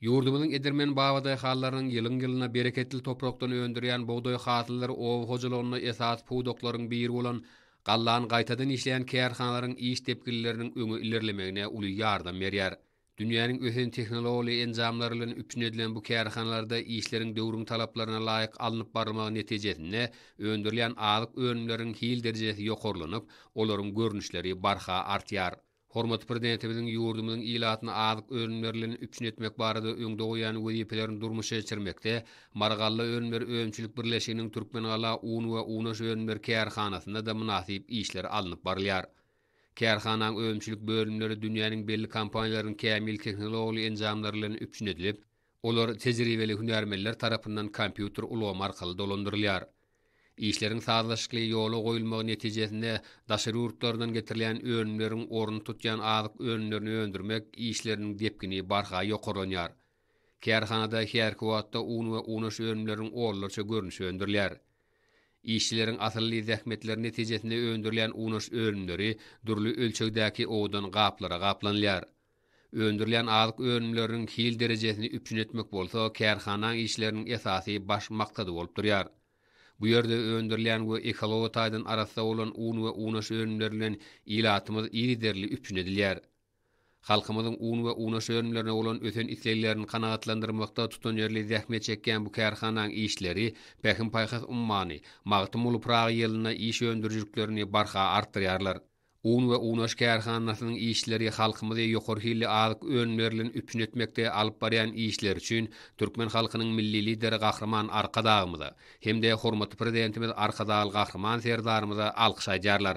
Ýurdumyzyň edermen babadaýhanlarynyň ýylyň-ýylyna bereketli toprakdan öndürýän bugdaý hasyllary oba hojalygynda esasy pudaklaryň biri bolan gallany gaýtadan işleýän kärhanalaryň iş depginleriniň öňe ilerlemegine uly ýardam berýär. Dünýäniň ösen tehnologly enjamlary bilen üpjün edilen bu kärhanalarda işleriň döwrüň talaplaryna laýyk alnyp barylmagy netijesinde öndürilýän azyk önümleriniň hil derejesi ýokarlanyp, olaryň görnüşleri barha artýar. Hormatly Prezidentimiziň ýurdumyzyň ilatyna azyk önümlerlerini üpjün etmek barada öňde goýan wezipelerini durmuşa geçirmekde Marygalla önümleri önümçilik birleşiginiň Türkmengala un we unaş önümleri kärhanasynda-da mynasyp işler alnyp barylýar. Kärhananyň önümçilik bölümleri dünýäniň belli kompaniýalarynyň kämil tehnologly enjamlary bilen üpjün edilip, Olar tejribeli hünärmenler tarapyndan kompýuter ulgamy arkaly dolandyrylýar. Işleriň sazlaşykly ýola goýulmagy netijesinde daşary ýurtlardan getirilýän önümleriň ornuny tutýan azyk önümlerini öndürmek işleriniň depgini barha ýokarlanýar. Kärhanada häzirki wagtda un we unaş önümleriniň onlarça görnüşi öndürilýär. Işçileriň asylly zähmetleri netijesinde öndürilýän unaş önümleri dürli ölçegdäki owadan gaplara gaplanylýar. Öndürilýän azyk önümleriniň hil derejesini üpjün etmek bolsa kärhanaň işleriniň esasy baş maksady bolup durýar. Bu ýerde öndürilýän we ekologiýa taýdan arassa bolan un we unaş önümleri bilen ilatymyz yzygiderli üpjün edilýär. Halkymyzyň un we unaş önümlerine bolan ösen isleglerini kanagatlandyrmakda tutanýerli zähmet çekýän bu kärhanaň işleri Pähim-paýhas ummany, Magtymguly Pyragy ýylynda iş öndürijiliklerini barha artdyrýarlar. Un we unaş kärhanasynyň işçileri halkymyzy ýokary hilli azyk önümlerilen üpjün etmekde alyp barýan işleri üçin türkmen halkynyň Milli Lideri Gahryman Arkadagymyza hem-de hormatly Prezidentimiz Arkadagly Gahryman Serdarymyza alkyş aýdýarlar.